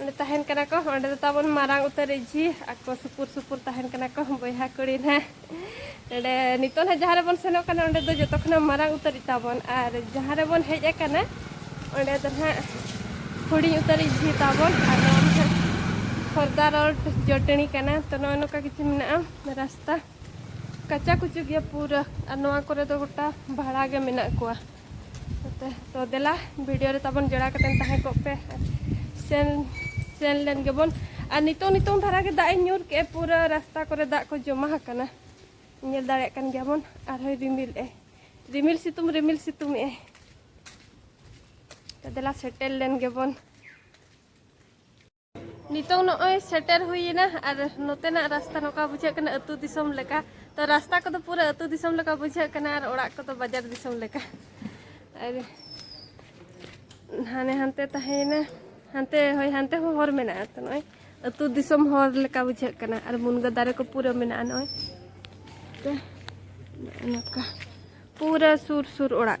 ᱚᱸᱰᱮ ᱛᱟᱦᱮᱱ ᱠᱟᱱᱟ ᱠᱚ ᱚᱸᱰᱮ ᱫᱚ ᱛᱟᱵᱚᱱ ᱢᱟᱨᱟᱝ ᱩᱛᱟᱹᱨ ᱤᱡᱷᱤ ᱟᱠᱚ ᱥᱩᱯᱩᱨ ᱥᱩᱯᱩᱨ ᱛᱟᱦᱮᱱ ᱠᱟᱱᱟ ᱠᱚ ᱵᱚᱭᱦᱟ ᱠᱩᱲᱤ ᱱᱟᱦᱟᱜ ᱚᱸᱰᱮ ᱱᱤᱛᱚᱜ ᱱᱟᱦᱟᱜ ᱡᱟᱦᱟᱸ ᱨᱮᱵᱚᱱ ᱥᱮᱱᱚᱜ ᱠᱟᱱᱟ ᱚᱸᱰᱮ ᱫᱚ ᱡᱚᱛᱚ ᱠᱷᱚᱱᱟᱜ ᱢᱟᱨᱟᱝ ᱩᱛᱟᱹᱨ ᱛᱟᱵᱚᱱ ᱟᱨ ᱡᱟᱦᱟᱸ ᱨᱮᱵᱚᱱ ᱦᱮᱡ ᱟᱠᱟᱱᱟ ᱚᱸᱰᱮ ᱫᱚ ᱱᱟᱦᱟᱜ ᱦᱩᱰᱤᱧ ᱩᱛᱟᱹᱨ ᱤᱡᱷᱤ ᱛᱟᱵᱚᱱ ᱟᱨ ᱱᱚᱣᱟ ᱱᱟᱦᱟᱜ ᱠᱷᱚᱨᱫᱟ ᱨᱳᱰ ᱡᱚᱴᱟᱹᱱᱤ ᱠᱟᱱᱟ ᱛᱚ ᱱᱚᱜᱼᱚ ᱱᱚᱝᱠᱟ ᱠᱤᱪᱷᱩ ᱢᱮᱱᱟᱜᱼᱟ ᱨᱟᱥᱛᱟ ᱠᱟᱪᱟ ᱠᱩᱪᱩ ᱜᱮᱭᱟ ᱯᱩᱨᱟᱹ ᱟᱨ ᱱᱚᱣᱟ ᱠᱚᱨᱮ ᱫᱚ ᱜᱚᱴᱟ ᱵᱷᱟᱲᱟ ᱜᱮ ᱢᱮᱱᱟᱜ ᱠᱚᱣᱟ ᱛᱚ ᱛᱚ ᱫᱮᱞᱟ ᱵᱷᱤᱰᱤᱭᱳ ᱨᱮ ᱛᱟᱵᱚᱱ ᱡᱚᱲᱟ ᱠᱟᱛᱮ ᱛᱟᱦᱮᱸ ᱠᱚᱜ ᱯᱮ ᱥᱮᱱ ᱥᱮᱱ ᱞᱮᱱ ᱜᱮᱵᱚᱱ ᱟᱨ ᱱᱤᱛᱚᱜ ᱱᱤᱛᱚᱜ ᱫᱷᱟᱨᱟ ᱜᱮ ᱫᱟᱜ ᱮ ᱧᱩᱨ ᱠᱮᱜᱼᱟ ᱯᱩᱨᱟᱹ ᱨᱟᱥᱛᱟ ᱠᱚᱨᱮ ᱫᱟᱜ ᱠᱚ ᱡᱚᱢᱟ ᱟᱠᱟᱱᱟ ᱧᱮᱞ ᱫᱟᱲᱮᱭᱟᱜ ᱠᱟᱱ ᱜᱮᱭᱟᱵᱚᱱ ᱟᱨᱦᱚᱸ ᱨᱤᱢᱤᱞ ᱮ ᱨᱤᱢᱤᱞ ᱥᱤᱛᱩᱝ ᱨᱤᱢᱤᱞ ᱥᱤᱛᱩᱝ ᱮ ᱛᱚ ᱫᱮᱞᱟ ᱥᱮᱴᱮᱨ ᱞᱮᱱ ᱜᱮᱵᱚᱱ ᱱᱤᱛᱚᱝ ᱱᱚᱜᱼᱚᱭ ᱥᱮᱴᱮᱨ ᱦᱩᱭᱮᱱᱟ ᱟᱨ ᱱᱚᱛᱮᱱᱟᱜ ᱨᱟᱥᱛᱟ ᱱᱚᱝᱠᱟ ᱵᱩᱡᱷᱟᱹᱜ ᱠᱟᱱᱟ ᱟᱹᱛᱩ ᱫᱤᱥᱚᱢ ᱞᱮᱠᱟ ᱛᱚ ᱨᱟᱥᱛᱟ ᱠᱚᱫᱚ ᱯᱩᱨᱟᱹ ᱟᱹᱛᱩ ᱫᱤᱥᱚᱢ ᱞᱮᱠᱟ ᱵᱩᱡᱷᱟᱹᱜ ᱠᱟᱱᱟ ᱟᱨ ᱚᱲᱟᱜ ᱠᱚᱫᱚ ᱵᱟᱡᱟᱨ ᱫᱤᱥᱚᱢ ᱞᱮᱠᱟ ᱟᱨ ᱦᱟᱱᱮ ᱦᱟᱱᱛᱮ ᱛᱟᱦᱮᱸᱭᱮᱱᱟ ᱦᱟᱱᱛᱮ ᱦᱳᱭ ᱦᱟᱱᱛᱮ ᱦᱚᱸ ᱦᱚᱨ ᱢᱮᱱᱟᱜᱼᱟ ᱛᱚ ᱱᱚᱜᱼᱚᱭ ᱟᱹᱛᱩ ᱫᱤᱥᱚᱢ ᱦᱚᱨ ᱞᱮᱠᱟ ᱵᱩᱡᱷᱟᱹᱜ ᱠᱟᱱᱟ ᱟᱨ ᱢᱩᱱᱜᱟᱹ ᱫᱟᱨᱮ ᱠᱚ ᱯᱩᱨᱟᱹ ᱢᱮᱱᱟᱜᱼᱟ ᱱᱚᱜᱼᱚᱭ ᱛᱮ ᱱᱚᱝᱠᱟ ᱯᱩᱨᱟᱹ ᱥᱩᱨ ᱥᱩᱨ ᱚᱲᱟᱜ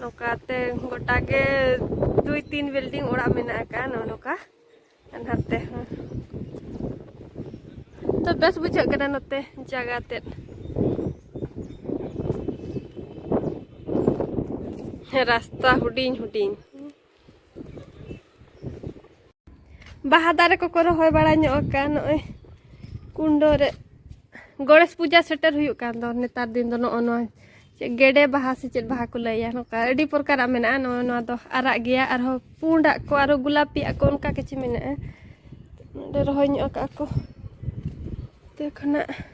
ᱱᱚᱝᱠᱟᱛᱮ ᱜᱚᱴᱟ ᱜᱮ ᱫᱩᱭ ᱛᱤᱱ ᱵᱤᱞᱰᱤᱝ ᱚᱲᱟᱜ ᱢᱮᱱᱟᱜ ᱟᱠᱟᱫᱼᱟ ᱱᱚᱜᱼᱚ ᱱᱚᱝᱠᱟ ᱱᱟᱛᱮ ᱦᱚᱸ ᱛᱚ ᱵᱮᱥ ᱵᱩᱡᱷᱟᱹᱜ ᱠᱟᱱᱟ ᱱᱚᱛᱮ ᱡᱟᱭᱜᱟ ᱛᱮᱫ ᱨᱟᱥᱛᱟ ᱦᱩᱰᱤᱧ ᱦᱩᱰᱤᱧ ᱵᱟᱦᱟ ᱫᱟᱨᱮ ᱠᱚᱠᱚ ᱨᱚᱦᱚᱭ ᱵᱟᱲᱟ ᱧᱚᱜ ᱟᱠᱟᱫ ᱱᱚᱜᱼᱚᱭ ᱠᱩᱱᱰᱚ ᱨᱮ ᱜᱚᱬᱮᱥ ᱯᱩᱡᱟ ᱥᱮᱴᱮᱨ ᱦᱩᱭᱩᱜ ᱠᱟᱱ ᱫᱚ ᱱᱮᱛᱟᱨ ᱫᱤᱱ ᱫᱚ ᱱᱚᱜᱼᱚ ᱱᱚᱣᱟ ᱪᱮᱫ ᱜᱮᱰᱮ ᱵᱟᱦᱟ ᱥᱮ ᱪᱮᱫ ᱵᱟᱦᱟ ᱠᱚ ᱞᱟᱹᱭᱟ ᱱᱚᱝᱠᱟ ᱟᱹᱰᱤ ᱯᱨᱚᱠᱟᱨᱟᱜ ᱢᱮᱱᱟᱜᱼᱟ ᱱᱚᱜᱼᱚ ᱱᱚᱣᱟ ᱫᱚ ᱟᱨᱟᱜ ᱜᱮᱭᱟ ᱟᱨᱦᱚᱸ ᱯᱩᱸᱰᱟᱜ ᱠᱚ ᱟᱨᱦᱚᱸ ᱜᱩᱞᱟᱯᱤᱭᱟᱜ ᱠᱚ ᱚᱱᱠᱟ ᱠᱤᱪᱷᱩ ᱢᱮᱱᱟᱜᱼᱟ ᱱᱚᱰᱮ ᱨᱚᱦᱚᱭ ᱧᱚᱜ ᱟᱠᱟᱫ ᱠᱚ ᱛᱮ ᱠᱷᱚᱱᱟᱜ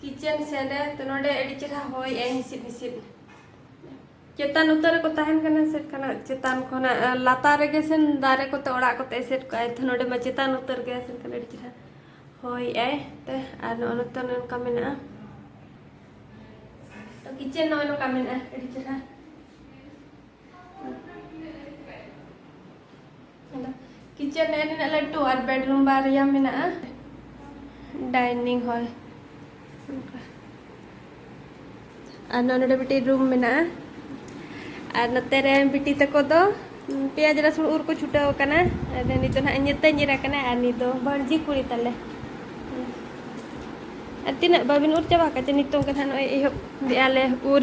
ᱠᱤᱪᱮᱱ ᱥᱮᱱ ᱨᱮ ᱛᱚ ᱱᱚᱰᱮ ᱟᱹᱰᱤ ᱪᱮᱦᱨᱟ ᱦᱚᱭ ᱮ ᱦᱤᱥᱤᱫ ᱦᱤᱥᱤᱫ ᱪᱮᱛᱟᱱ ᱩᱛᱟᱹᱨ ᱨᱮᱠᱚ ᱛᱟᱦᱮᱱ ᱠᱟᱱᱟ ᱥᱮᱴ ᱠᱟᱱᱟ ᱪᱮᱛᱟᱱ ᱠᱷᱚᱱᱟᱜ ᱞᱟᱛᱟᱨ ᱨᱮᱜᱮ ᱥᱮᱱ ᱫᱟᱨᱮ ᱠᱚᱛᱮ ᱚᱲᱟᱜ ᱠᱚᱛᱮ ᱮᱥᱮᱫ ᱠᱚᱜᱼᱟᱭ ᱛᱚ ᱱᱚᱰᱮ ᱢᱟ ᱪᱮᱛᱟᱱ ᱩᱛᱟᱹᱨ ᱜᱮ ᱥᱮᱱ ᱠᱟᱱᱟ ᱟᱹᱰᱤ ᱪᱮᱦᱨᱟ ᱦᱚᱭ ᱟᱭ ᱛᱮ ᱟᱨ ᱱᱚᱜᱼᱚ ᱱᱚᱛᱮ ᱱᱚᱝᱠᱟ ᱢᱮᱱᱟᱜᱼᱟ ᱛᱚ ᱠᱤᱪᱮᱱ ᱱᱚᱜᱼᱚ ᱱᱚᱝᱠᱟ ᱢᱮᱱᱟᱜᱼᱟ ᱟᱹᱰᱤ ᱪᱮᱦᱨᱟ ᱠᱤᱪᱮᱱ ᱨᱮ ᱱᱤᱱᱟᱹᱜ ᱞᱟᱹᱴᱩ ᱟᱨ ᱵᱮᱰᱨᱩᱢ ᱵᱟᱨᱭᱟ ᱢᱮᱱᱟᱜᱼᱟ ᱰᱟᱭᱱᱤᱝ ᱦᱚᱞ ᱟᱨ ᱱᱚᱰᱮ ᱢᱤᱫᱴᱤᱡ ᱨᱩᱢ ᱢᱮᱱᱟᱜᱼᱟ ᱟᱨ ᱱᱚᱛᱮ ᱨᱮ ᱵᱤᱴᱤ ᱛᱟᱠᱚ ᱫᱚ ᱯᱮᱸᱭᱟᱡᱽ ᱨᱟᱹᱥᱩᱱ ᱩᱨ ᱠᱚ ᱪᱷᱩᱴᱟᱹᱣ ᱟᱠᱟᱱᱟ ᱟᱫᱚ ᱱᱤᱛ ᱫᱚ ᱱᱟᱦᱟᱜ ᱧᱮᱛᱮ ᱧᱤᱨ ᱟᱠᱟᱱᱟ ᱟᱨ ᱱᱤᱛ ᱫᱚ ᱵᱷᱟᱹᱲᱡᱤ ᱠᱩᱲᱤ ᱛᱟᱞᱮ ᱟᱨ ᱛᱤᱱᱟᱹᱜ ᱵᱟᱵᱤᱱ ᱩᱨ ᱪᱟᱵᱟ ᱠᱟᱜ ᱪᱮ ᱱᱤᱛᱚᱝ ᱜᱮ ᱱᱟᱦᱟᱜ ᱱᱚᱜᱼᱚᱭ ᱮᱦᱚᱵ ᱫᱮᱜᱼᱟ ᱞᱮ ᱩᱨ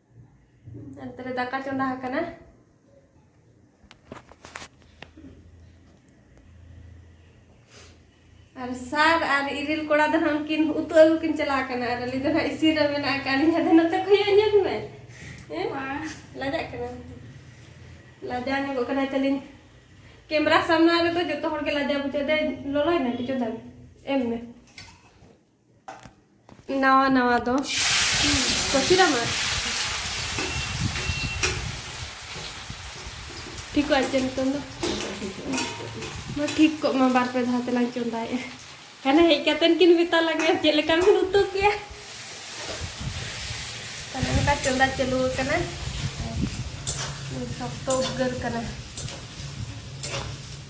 ᱚᱱᱛᱮ ᱨᱮ ᱫᱟᱠᱟ ᱪᱚᱸᱫᱟ ᱟᱠᱟᱱᱟ ᱟᱨ ᱥᱟᱨ ᱟᱨ ᱤᱨᱤᱞ ᱠᱚᱲᱟ ᱫᱚ ᱦᱟᱸᱜ ᱩᱱᱠᱤᱱ ᱩᱛᱩ ᱟᱹᱜᱩ ᱠᱤᱱ ᱪᱟᱞᱟᱣ ᱟᱠᱟᱱᱟ ᱟᱨ ᱟᱹᱞᱤᱧ ᱫᱚ ᱦᱟᱸᱜ ᱤᱥᱤᱱ ᱨᱮ ᱢᱮᱱᱟᱜ ᱟᱠᱟᱫ ᱞᱤᱧ ᱟᱫᱚ ᱱᱚᱛᱮ ᱠᱷᱚᱭᱚᱜ ᱧᱚᱜ ᱢᱮ ᱞᱟᱡᱟᱜ ᱠᱟᱱᱟ ᱞᱟᱡᱟᱣ ᱧᱚᱜᱚᱜ ᱠᱟᱱᱟᱭ ᱛᱟᱹᱞᱤᱧ ᱠᱮᱢᱨᱟ ᱥᱟᱢᱱᱟ ᱨᱮᱫᱚ ᱡᱚᱛᱚ ᱦᱚᱲ ᱜᱮ ᱞᱟᱡᱟᱣ ᱵᱩᱡᱷᱟᱹᱣ ᱫᱟᱭ ᱞᱚᱞᱚᱭ ᱱᱟ ᱠᱤᱪᱷᱩ ᱫᱟᱢ ᱮᱢ ᱢᱮ ᱱᱟᱣᱟ ᱱᱟᱣᱟ ᱫᱚ ᱠᱚᱪᱤᱨᱟᱢ ᱟᱨ ᱴᱷᱤᱠᱚᱜ ᱟᱪᱪᱷᱟ ᱱᱤᱛᱚᱝ ᱫᱚ ᱢᱟ ᱴᱷᱤᱠ ᱠᱚᱜ ᱢᱟ ᱵᱟᱨ ᱯᱮ ᱫᱷᱟᱣ ᱛᱮᱞᱟᱝ ᱪᱚᱸᱫᱟᱭᱮᱜᱼᱟ ᱦᱟᱱᱮ ᱦᱮᱡ ᱠᱟᱛᱮᱱ ᱠᱤᱱ ᱢᱮᱛᱟ ᱞᱟᱝᱟ ᱪᱮᱫ ᱞᱮᱠᱟ ᱵᱤᱱ ᱩᱛᱩ ᱠᱮᱭᱟ ᱛᱟᱦᱞᱮ ᱚᱱᱠᱟ ᱪᱚᱸᱫᱟ ᱪᱟᱹᱞᱩ ᱟᱠᱟᱱᱟ ᱥᱚᱠᱛᱚ ᱩᱫᱽᱜᱟᱹᱨ ᱠᱟᱱᱟ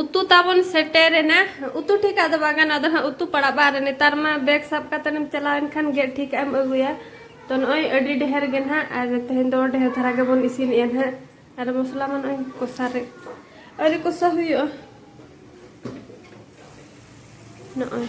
ᱩᱛᱩ ᱛᱟᱵᱚᱱ ᱥᱮᱴᱮᱨᱮᱱᱟ ᱩᱛᱩ ᱴᱷᱤᱠ ᱟᱫᱚ ᱵᱟᱝ ᱜᱟᱱᱚᱜ ᱟᱫᱚ ᱦᱟᱸᱜ ᱩᱛᱩ ᱯᱟᱲᱟᱜ ᱵᱟᱨ ᱱᱮᱛᱟᱨ ᱢᱟ ᱵᱮᱜᱽ ᱥᱟᱵ ᱠᱟᱛᱮ ᱮᱢ ᱪᱟᱞᱟᱣ ᱮᱱᱠᱷᱟᱱ ᱜᱮ ᱴᱷᱤᱠ ᱮᱢ ᱟᱹᱜᱩᱭᱟ ᱛᱚ ᱱᱚᱜᱼᱚᱭ ᱟᱹᱰᱤ ᱰᱷᱮᱨ ᱜᱮ ᱱᱟᱦᱟᱜ ᱟᱨ ᱛᱮᱦᱮᱧ ᱫᱚ ᱰᱷᱮᱨ ᱫᱷᱟᱨᱟ ᱜᱮᱵᱚᱱ ᱤᱥᱤᱱᱮᱜᱼᱟ ᱱᱟᱦᱟᱜ ᱟᱨ ᱢᱚᱥᱞᱟ ᱢᱟ ᱱᱚᱜᱼᱚᱭ ᱠᱚᱥᱟ ᱨᱮ ᱟᱹᱰᱤ ᱠᱚᱥᱟ ᱦᱩᱭᱩᱜᱼᱟ ᱱᱚᱜᱼᱚᱭ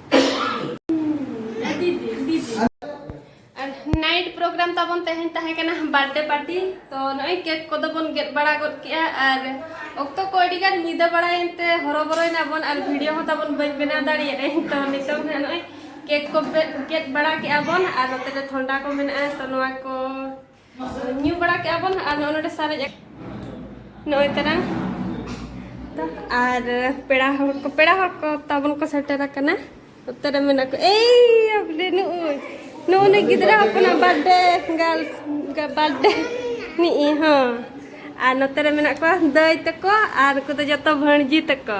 ᱱᱟᱭᱤᱴ ᱯᱨᱳᱜᱨᱟᱢ ᱛᱟᱵᱚᱱ ᱛᱮᱦᱮᱧ ᱛᱟᱦᱮᱸ ᱠᱟᱱᱟ ᱵᱟᱨᱛᱷᱰᱮ ᱯᱟᱨᱴᱤ ᱛᱚ ᱱᱚᱜᱼᱚᱭ ᱠᱮᱠ ᱠᱚᱫᱚ ᱵᱚᱱ ᱜᱮᱫ ᱵᱟᱲᱟ ᱜᱚᱫ ᱠᱮᱜᱼᱟ ᱟᱨ ᱚᱠᱛᱚ ᱠᱚ ᱟᱹᱰᱤ ᱜᱟᱱ ᱧᱤᱫᱟᱹ ᱵᱟᱲᱟᱭᱮᱱ ᱛᱮ ᱦᱚᱨᱚᱵᱚᱨᱚᱭᱮᱱᱟ ᱵᱚᱱ ᱟᱨ ᱵᱷᱤᱰᱤᱭᱳ ᱦᱚᱸ ᱛᱟᱵᱚᱱ ᱵᱟᱹᱧ ᱵᱮᱱᱟᱣ ᱫᱟᱲᱮᱭᱟᱫᱟᱹᱧ ᱛᱚ ᱱᱤᱛᱚᱝ ᱦᱟᱸᱜ ᱱᱚᱜᱼᱚᱭ ᱠᱮᱠ ᱠᱚ ᱜᱮᱫ ᱵᱟᱲᱟ ᱠᱮᱜᱼᱟ ᱵᱚᱱ ᱟᱨ ᱱᱚᱛᱮ ᱨᱮ ᱛᱷᱚᱱᱰᱟ ᱠᱚ ᱢᱮᱱᱟᱜᱼᱟ ᱛᱚ ᱱᱚᱣᱟ ᱠᱚ ᱧᱩ ᱵᱟᱲᱟ ᱠᱮᱜᱼᱟ ᱵᱚᱱ ᱟᱨ ᱱᱚᱜᱼᱚ ᱱᱚᱰᱮ ᱥᱟᱨᱮᱡ ᱱᱚᱜᱼᱚᱭ ᱛᱟᱨᱟᱝ ᱟᱨ ᱯᱮᱲᱟ ᱦᱚᱲ ᱠᱚ ᱯᱮᱲᱟ ᱦᱚᱲ ᱠᱚ ᱛᱟᱵᱚᱱ ᱠᱚ ᱥᱮᱴᱮᱨ ᱟᱠᱟᱱᱟ ᱩᱛᱟᱹᱨ ᱢᱮᱱᱟᱜ ᱠᱚ ᱮᱭ ᱟᱵᱞᱮ ᱱᱩᱭ ᱱᱩᱭ ᱜᱤᱫᱽᱨᱟᱹ ᱦᱚᱯᱚᱱᱟᱜ ᱵᱟᱨᱛᱷᱰᱮ ᱜᱟᱨᱞᱥ ᱵᱟᱨᱛᱷᱰᱮ ᱱᱤᱜ ᱦᱚᱸ ᱟᱨ ᱱᱚᱛᱮ ᱨᱮ ᱢᱮᱱᱟᱜ ᱠᱚᱣᱟ ᱫᱟᱹᱭ ᱛᱟᱠᱚ ᱟᱨ ᱩᱱᱠᱩ ᱫᱚ ᱡᱚᱛᱚ ᱵᱷᱟᱹᱬᱡᱤ ᱛᱟᱠᱚ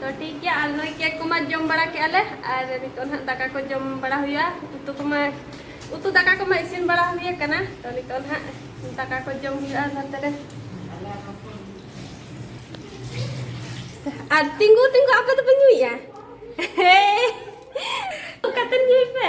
ᱛᱚ ᱴᱷᱤᱠ ᱜᱮᱭᱟ ᱟᱨ ᱱᱚᱜᱼᱚᱭ ᱠᱮᱠ ᱠᱚᱢᱟ ᱡᱚᱢ ᱵᱟᱲᱟ ᱠᱮᱜᱼᱟ ᱞᱮ ᱟᱨ ᱱᱤᱛᱚᱜ ᱱᱟᱦᱟᱜ ᱫᱟᱠᱟ ᱠᱚ ᱡᱚᱢ ᱵᱟᱲᱟ ᱦᱩᱭᱩᱜᱼᱟ ᱩᱛᱩ ᱠᱚᱢᱟ ᱩᱛᱩ ᱫᱟᱠᱟ ᱠᱚᱢᱟ ᱤᱥᱤᱱ ᱵᱟᱲᱟ ᱦᱩᱭ ᱟᱠᱟᱱᱟ ᱛᱚ ᱱᱤᱛᱚᱜ ᱱᱟᱦᱟᱜ ᱫᱟᱠᱟ ᱠᱚ ᱡᱚᱢ ᱦᱩᱭᱩᱜᱼᱟ ᱱᱚᱛᱮ ᱨᱮ ᱟᱨ ᱛᱤᱸᱜᱩ ᱛᱤᱸᱜᱩ ᱟᱯᱮ ᱫᱚᱯᱮ ᱧᱩᱭᱮᱜᱼᱟ ᱦᱮᱸ ᱠᱟᱛᱮ ᱧᱩᱭ ᱯᱮ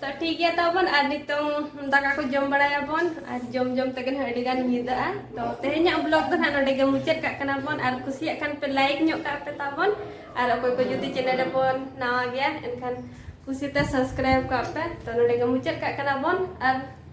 ᱛᱚ ᱴᱷᱤᱠ ᱜᱮᱭᱟ ᱛᱟᱵᱚᱱ ᱟᱨ ᱱᱤᱛᱚᱝ ᱫᱟᱠᱟ ᱠᱚ ᱡᱚᱢ ᱵᱟᱲᱟᱭᱟᱵᱚᱱ ᱟᱨ ᱡᱚᱢ ᱡᱚᱢ ᱛᱮᱜᱮ ᱱᱟᱦᱟᱜ ᱟᱹᱰᱤ ᱜᱟᱱ ᱧᱤᱫᱟᱹᱜᱼᱟ ᱛᱚ ᱛᱮᱦᱮᱧᱟᱜ ᱵᱞᱚᱜ ᱫᱚ ᱱᱟᱦᱟᱜ ᱱᱚᱰᱮ ᱜᱮ ᱢᱩᱪᱟᱹᱫ ᱠᱟᱜ ᱠᱟᱱᱟ ᱵᱚᱱ ᱟᱨ ᱠᱩᱥᱤᱭᱟᱜ ᱠᱷᱟᱱ ᱯᱮ ᱞᱟᱭᱤᱠ ᱧᱚᱜ ᱠᱟᱜ ᱯᱮ ᱛᱟᱵᱚᱱ ᱟᱨ ᱚᱠᱚᱭ ᱠᱚ ᱡᱩᱫᱤ ᱪᱮᱱᱮᱞ ᱨᱮᱵᱚᱱ ᱱᱟᱣᱟ ᱜᱮᱭᱟ ᱮᱱᱠᱷᱟᱱ ᱠᱩᱥᱤᱛᱮ ᱥᱟᱵᱥᱠᱨᱟᱭᱤᱵ ᱠᱟᱜ ᱯᱮ ᱛᱚ ᱱᱚᱰᱮ ᱜᱮ ᱢᱩᱪᱟᱹᱫ ᱠᱟᱜ ᱠᱟᱱᱟ ᱵᱚᱱ ᱟᱨ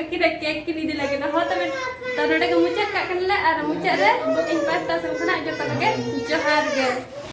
ᱟᱹᱠᱤᱱᱟᱜ ᱠᱮᱠ ᱠᱤᱱ ᱤᱫᱤ ᱞᱟᱹᱜᱤᱫ ᱦᱚᱸ ᱛᱚᱵᱮ ᱛᱚ ᱱᱚᱰᱮ ᱜᱮ ᱢᱩᱪᱟᱹᱫ ᱠᱟᱜ ᱠᱟᱱᱟᱞᱮ ᱟᱨ ᱢᱩᱪᱟᱹᱫ ᱨᱮ ᱤᱧ ᱯᱟᱥᱴᱟ ᱥᱮᱱ ᱠᱷᱚᱱᱟᱜ ᱡᱚᱛᱚ ᱠᱚᱜᱮ ᱡᱚᱦᱟᱨ ᱜᱮ